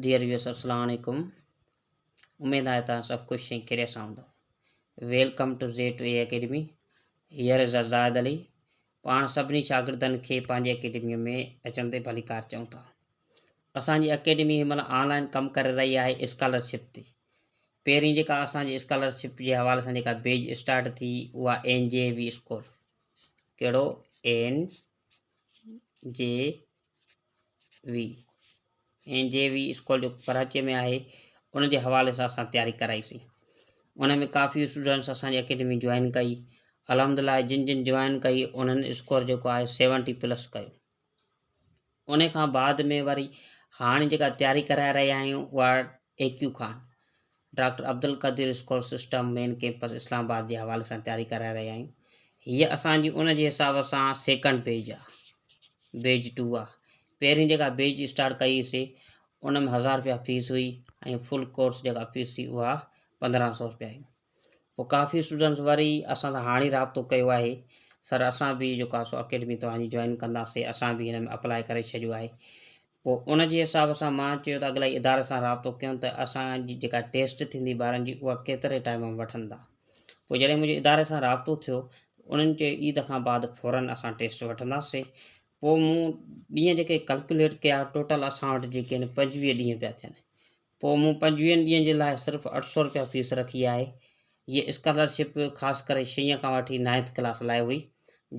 Dear viewers السلام عليڪم اميد آهي توهان سڀ خوش ۽ خيريت سان هوندو welcome to Z to A academy here is Zahid Ali پاڻ سڀني شاگردن کي پنهنجي اڪيڊمي ۾ اچڻ تي ڀليڪار چئون ٿا اسان جي اڪيڊمي هن مهل آن لائن ڪم ڪري رهي آهي اسڪالرشپ تي پهرين جيڪا اسان جي اسڪالرشپ جي حوالي سان جيڪا بيج اسٽارٽ ٿي اها اين جي وي اسڪول ڪهڙو N J V N J V school جو ڪراچي ۾ آهي ان جي حوالي سان اسان تياري ڪرائي سي ان ۾ ڪافي اسٽوڊنٽس اسان جي اڪيڊمي جوائن ڪئي الحمدلله جن جن جوائن ڪئي انهن اسڪور جيڪو آهي سيونٽي پلس ڪيو ان کان بعد ۾ وري هاڻي جيڪا تياري ڪرائي رهيا آهيون اها A Q Khan, doctor Abdul Qadeer school system main campus Islamabad جي حوالي سان تياري ڪرائي رهيا آهيون. هيء اسان جي ان جي حساب سان سيڪنڊ بيچ آ. بيچ ٽو آ. پهرين جيڪا بيچ اسٽارٽ ڪئي هئي سي ان ۾ هزار رپيا فيس هئي ۽ فل ڪورس جيڪا فيس هئي اها پندرهن سؤ رپيا هئي. پوء ڪافي اسٽوڊنٽس وري اسان سان هاڻي رابطو ڪيو آهي سر اسان به جيڪو آ سو اڪيڊمي توهان جي جوائن ڪنداسين اسان به هن ۾ اپلائي ڪري ڇڏيو آهي. پوء ان جي حساب سان مان چيو ته اڳلائي اداري سان رابطو ڪيون ته اسان جي جيڪا ٽيسٽ ٿيندي ٻارن جي اها ڪيتري ٽائيم ۾ وٺندا. پوء جڏهن منهنجو اداري سان رابطو ٿيو ته انهن چيو عيد کان بعد فورن اسان ٽيسٽ وٺنداسين. پوء مون ڏينهن جيڪي ڪلڪيوليٽ ڪيا ٽوٽل اسان وٽ جيڪي آهن پنجويهه ڏينهن پيا ٿين. پوء مون پنجويهن ڏينهن جي لاء صرف اٺ سؤ روپيا فيس رکي آهي. هيء اسڪالرشپ خاص ڪري ڇهين کان وٺي نائنٿ ڪلاس لاء هئي،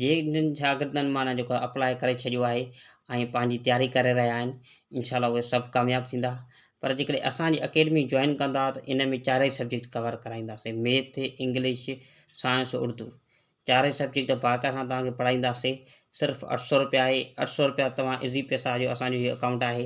جن شاگردن معنيٰ جيڪو اپلائي ڪري ڇڏيو آهي ۽ پنهنجي تياري ڪري رهيا آهن، انشاء الله اهي سڀ ڪامياب ٿيندا، پر جيڪڏهن اسان جي اڪيڊمي جوائن ڪندا ته ان ۾ چارئي سبجيڪٽ ڪور ڪرائينداسين، ميٿ، انگلش، سائنس، اردو چارئي سبجيڪٽ باقاعده سان توهان کي پڙهائينداسين، صرف اٺ سؤ روپيا آهي، اٺ سؤ روپيا توهان ايزي پيسا جو اسان جو هيء اڪائونٽ آهي،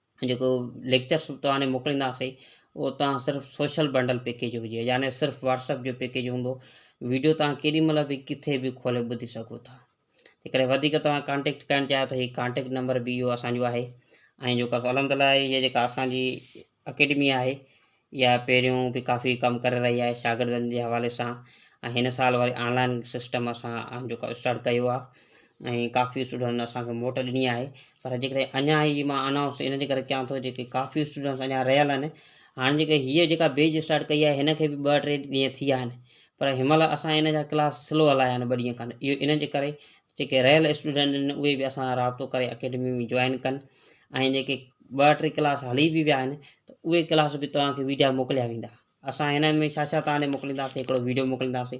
جيڪو ليڪچرس توهان ڏي موڪلينداسي اهو توهان صرف سوشل بنڊل پيڪيج هجي يعني صرف واٽسپ جو پيڪيج هوندو ويڊيو توهان ڪيڏي مهل به ڪٿي به کولي ٻڌي سگهو ٿا جيڪڏهن وڌيڪ توهان ڪانٽيڪٽ ڪرڻ چاهيو ته هي ڪانٽيڪٽ نمبر به اهو اسانجو آهي ۽ جيڪو الحمد لله هي جيڪا اسانجي اڪيڊمي آهي اها پهريون به ڪافي ڪم ڪري رهي آهي شاگردن جي حوالي سان ۽ هن سال وري آنلائن سسٽم اسان جيڪو اسٽارٽ ڪيو آهي ۽ ڪافي اسٽوڊنٽن اسان کي موٽ ڏني آهي پر جيڪڏهن اڃا هي مان انائونس ان جي ڪري ڪيان ٿو جيڪي ڪافي اسٽوڊنٽس اڃا رهيل آهن هاڻي جيڪي هيء جيڪا بيچ اسٽارٽ ڪئي آهي هن کي به ٻه ٽي ڏينهن ٿي ويا آهن پر هن مهل اسان ان جا ڪلاس سلو هلايا آهن ٻه ڏينهن کن اهو ان جي ڪري جيڪي رهيل اسٽوڊنٽ آهن اهي به اسان سان رابطو ڪري اڪيڊمي ۾ جوائن ڪن ۽ جيڪي ٻه ٽي ڪلاس هلي به ويا آهن ته اهي ڪلاس به توهان کي ويڊيا موڪليا ويندا اسان هن ۾ ڇا ڇا توهان ڏي موڪلينداسين هڪڙو ويڊيو موڪلينداسين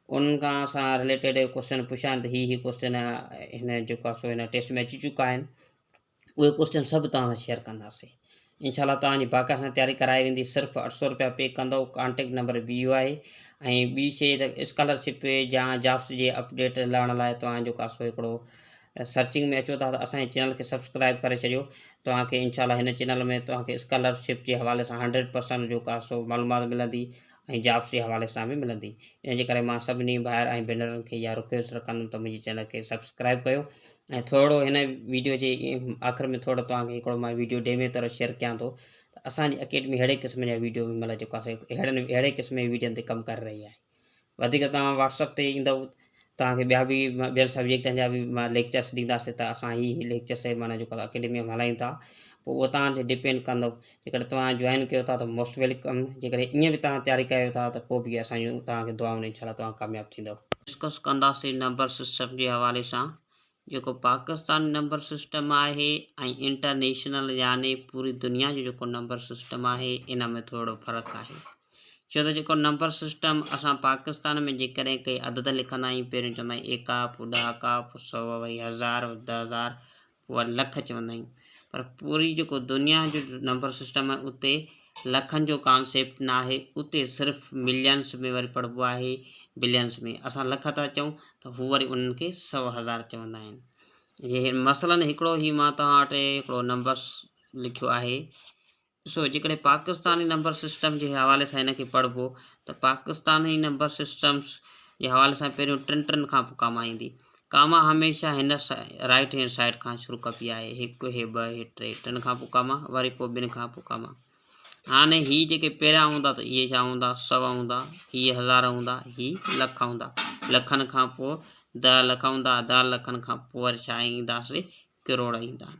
انهن کان سان رليٽيڊ ڪوئسچن پڇان ته هي هي ڪوئسچن هن جيڪا سو هن ٽيسٽ ۾ اچي چڪا آهن اهي ڪوئسچن سڀ توهان سان شيئر ڪنداسين انشاء الله توهان جي باقاعده سان تياري ڪرائي ويندي صرف اٺ سؤ رپيا پي ڪندو ڪانٽيڪٽ نمبر به اهو آهي ۽ ٻي شيء ته اسڪالرشپ يا جابس جي اپڊيٽ لهڻ لاء توهان جيڪا سو هڪڙو سرچنگ ۾ اچو ٿا ته اسان جي چينل کي سبسڪرائب ڪري ڇڏيو توهان کي انشاء الله هن چينل ۾ توهان کي اسڪالرشپ جي حوالي سان هنڊريڊ پرسنٽ جيڪا سو معلومات ملندي ۽ جابس جي حوالي سان به ملندي ان جي ڪري مان سڀني ڀائر ۽ ڀينرن کي اها رڪويسٽ رکندم ته منهنجي چينل کي سبسڪرائيب ڪيو ۽ ٿورڙو هن ويڊيو جي آخر ۾ ٿورڙو توهان کي هڪڙو مان ويڊيو ڊيمي طور شيئر ڪيان ٿو ته اسان جي اڪيڊمي اهڙي قسم جا ويڊيو هن مهل جيڪو اسان اهڙن اهڙي قسم جي ويڊيون تي ڪم ڪري رهي آهي وڌيڪ توهان واٽسپ تي ايندو توهان کي ٻيا به ٻين سبجيڪٽن جا به مان ليڪچرس ڏينداسي ته اسان هي ليڪچرس معنيٰ جيڪو اڪيڊمي ۾ هلايون ٿا پوء اهو توهان تي ڊپينڊ ڪندو جيڪڏهن توهان جوائن ڪيو ٿا ته موسٽ ويلڪم جيڪڏهن ائين به توهان تياري ڪيو ٿا ته پوء به اسان جون توهان کي دعائون انشاء الله توهان ڪامياب ٿيندؤ. ڊسڪس ڪنداسين نمبر سسٽم جي حوالي سان جيڪو پاڪستاني نمبر سسٽم آهي ۽ انٽرنيشنل يعني پوري دنيا جو جيڪو نمبر سسٽم آهي ان ۾ ٿورڙو فرق آهي. ڇو ته جيڪو نمبر سسٽم اسان پاڪستان ۾ جيڪڏهن ڪي عدد لکندا آهيون پهريون چوندا آهيون ايڪا پوء ڏهاڪا پوء سؤ وري هزار وري ڏهه هزار پوء وري لک چوندا آهيون پر پوري جيڪو دنيا جو نمبر سسٽم آهي اتي لکن جو ڪانسيپٽ نه آهي اتي صرف ملينس ۾ وري پڙهبو آهي بلينس ۾ اسان لک ٿا چئون ته هو وري انهن کي سؤ هزار چوندا آهن جي مثلاً هڪڙو هي مان توهان وٽ هڪڙو نمبر لکيو آهي ڏسو جيڪڏهن پاڪستاني نمبر سسٽم جي حوالي سان هن کي پڙهبو ته پاڪستاني نمبر سسٽمز جي حوالي سان پهريون ٽن ٽن کان پوء ڪاما ايندي. ڪاما هميشه هن رائيٽ هينڊ سائيڊ کان شروع ڪبي آهي، هڪ، هي ٻه، هي ٽي، ٽن کان پوء ڪاما، وري پوء ٻن کان پوء ڪاما. هاڻي هي جيڪي پهريان هوندا ته اهي ڇا هوندا، سو هوندا، هي هزار هوندا، هي لک هوندا، لکن کان پوء دهه لک هوندا، دهه لکن کان پوء وري ڇا ايندا سي ڪروڙ ايندا آهن.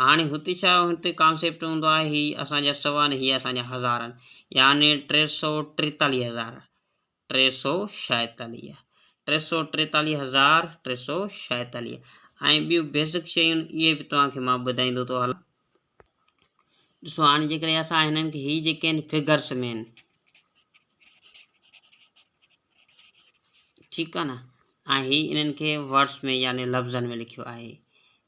هاڻي هتي ڇا هتي ڪانسيپٽ هوندو آهي هي اسان جا سوا نه هي اسان جا هزارن يعني ٽي سو ٽيتاليهه هزار ٽي سو شايتاليهه ٽي سو ٽيتاليهه هزار ٽي سو شايتاليهه ۽ ٻيون بيسڪ شيون اهي به توهان کي مان ٻڌائيندو ٿو هلان ڏسو هاڻي جيڪڏهن اسان هنن کي هي جيڪي آهن فگرس ۾ آهن ٺيڪ آهي نه ۽ هي انهن کي ورڊس ۾ يعني لفظن ۾ لکيو آهي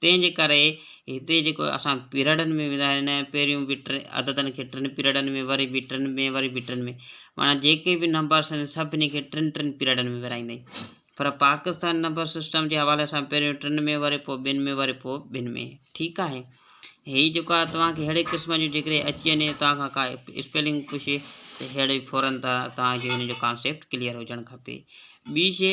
تنهن جي ڪري هتي جيڪو اسان پيرڊن ۾ ويندا آهيون نه پهريون به ٽي عددن کي ٽن پيرڊن ۾ وري به ٽن ۾ وري به ٽن ۾ معنيٰ جيڪي به نمبرس آهن سڀني کي ٽن ٽن پيرڊن ۾ ورهائيندا آهيون پر پاڪستان نمبر سسٽم جي حوالي سان پهريون ٽن ۾ وري پوء ٻن ۾ وري پوء ٻن ۾ ٺيڪ آهي هي جيڪو آهي توهان کي ههڙي قسم جو جيڪڏهن اچي وڃي توهان کان ڪا اسپيلنگ پڇي ته ههڙي فورن توهان کي هن جو ڪانسيپٽ ڪليئر هجڻ کپي ٻي شي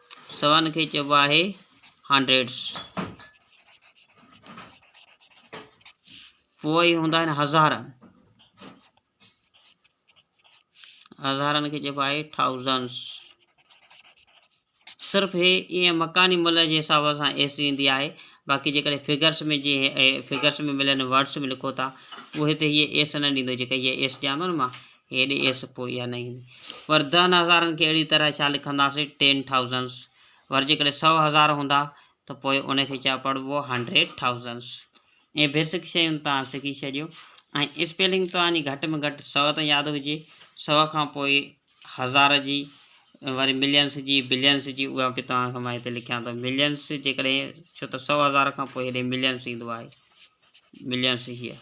سون کي چئبو آهي هنڊريڊس. پوء هوندا آهن هزار. هزارن کي چئبو آهي ٿائوزنس. صرف هي ائين مڪاني ملء جي حساب سان ايس ايندي آهي باقي جيڪڏهن فگرس ۾ جي فگرس ۾ ملن ورڊس ۾ لکو ٿا پوء هتي هيء ايس نه ڏيندو جيڪا هيء ايس ڏيان ٿو نه مان هيڏي ايس پوء اها نه ايندي. ور دهن هزارن کي اهڙي طرح ڇا لکنداسين ٽين ٿائوزنس. ور جيڪڏهن سؤ هزار هوندا ته پوء ان کي ڇا پڙهبو هنڊريڊ ٿائوزنس. اهي بيسڪ شيون توهان سکي ڇڏيو ۽ اسپيلنگ توهان جي گهٽ ۾ گهٽ سؤ ته ياد هجي. سؤ کان پوء هزار جي وري ملينس جي بلينس جي اها به توهان کي مان هتي لکيان ٿو ملينس جيڪڏهن ڇو ته سؤ هزار کان پوء هيڏي ملينس ايندو آهي ملينس هيء.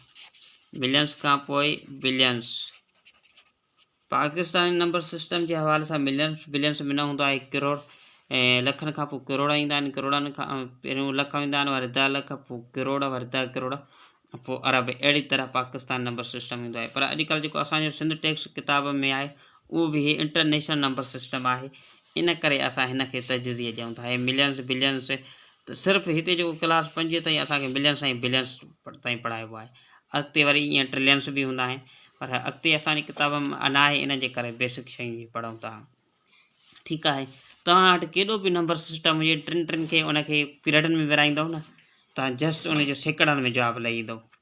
ملينز کان پوء بلينز. پاڪستاني نمبر سسٽم جي حوالي سان ملينز، بلينز ۾ نه هوندو آهي ڪروڙ ۽ لکن کان پوء ڪروڙا ايندا آهن، ڪروڙن کان پهريون لک ويندا آهن وري ڏهه لک پوء ڪروڙ وري ڏهه ڪروڙ پوء ارب اهڙي طرح پاڪستاني نمبر سسٽم ايندو آهي پر اڄ ڪلهه جيڪو اسان جو سنڌ ٽيڪس ڪتاب ۾ آهي اهو به هي انٽرنيشنل نمبر سسٽم آهي ان ڪري اسان هن کي تجزيه ڏيون ٿا هي ملينز، بلينز ته صرف هتي جيڪو ڪلاس پنجين تائين اسان کي ملينس ۽ بلينس تائين پڙهائبو آهي. اڳتي وري ائين ٽرلينس به هوندا آهن. پر اڳتي اسان جي ڪتابن ۾ ناهي ان جي ڪري بيسڪ شين جي پڙهون ٿا. ٺيڪ آهي. توهان وٽ ڪيڏو به نمبر سسٽم هجي ٽن ٽن کي ان کي پيرڊن ۾ ورهائيندؤ نه ته جسٽ ان جو سيڪڙن ۾ جواب لهي ايندو.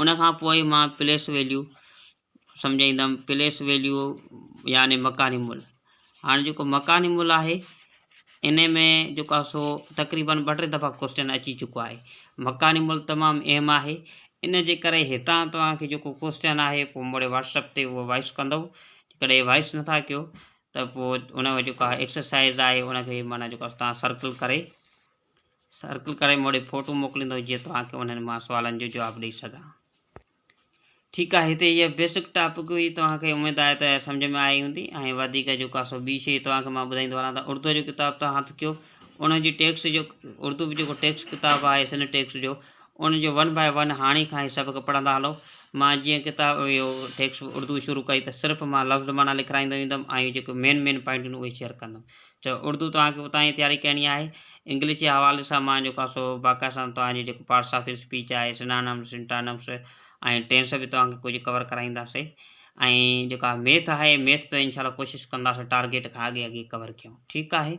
ان کان پوء مان پليس ويليو سمجهائيندم، پليس ويليو يعني مڪاني ملهه. هاڻي جيڪو مڪاني ملهه آهي انهي ۾ جيڪو آهي سو تقريبن ٻه ٽي دفعا ڪوئسٽن اچي چڪو آهي. مڪاني ملهه تمام اهم آهي ان جي ڪري هتان توهان کي جيڪو ڪوئسٽن آهي پوء مڙي واٽس اپ تي اهو وائس ڪندو جيڪڏهن وائس نٿا ڪيو ته پوء ان جو جيڪا ايڪسرسائز آهي ان کي معنيٰ جيڪو آهي توهان سرڪل ڪري سرڪل ڪري موڙي فوٽو موڪليندو جيئن توهان کي انهن مان سوالن جو جواب ڏئي سگهان. ٺيڪ آهي هتي اها بيسڪ ٽاپڪ هئي توهان کي اميد آهي ته سمجهه ۾ آئي هوندي ۽ وڌيڪ جيڪو آهي سو ٻي شيء توهان کي مان ٻڌائيندو هلان ته اردوء جو ڪتاب توهان هٿ ڪيو ان جي ٽيڪسٽ جو اردو به جيڪو ٽيڪسٽ ڪتاب آهي سنڌ ٽيڪسٽ جو ان جو ون باء ون هاڻي کان هي سبق پڙهندا هلو مان جيئن ڪتاب اهو ٽيڪسٽ بڪ اردو شروع ڪئي ته صرف مان لفظ معنيٰ لکرائيندو ويندم ۽ جيڪي مين مين پوائنٽ هن اهي شيئر ڪندم. چيو اردو توهان کي اتان ئي تياري ڪرڻي آهي. انگلش جي حوالي سان مان جيڪو آهي سو باقاعده سان توهان جي جيڪو پارٽس آف اسپيچ آهي، سنانمس، سنٽانمس ۽ ٽينس به توهان کي ڪجهه ڪور ڪرائينداسين ۽ جيڪو آهي ميٿ آهي ميٿ ته انشاء الله ڪوشش ڪنداسين ٽارگيٽ کان اڳي اڳي ڪور ڪيون. ٺيڪ آهي.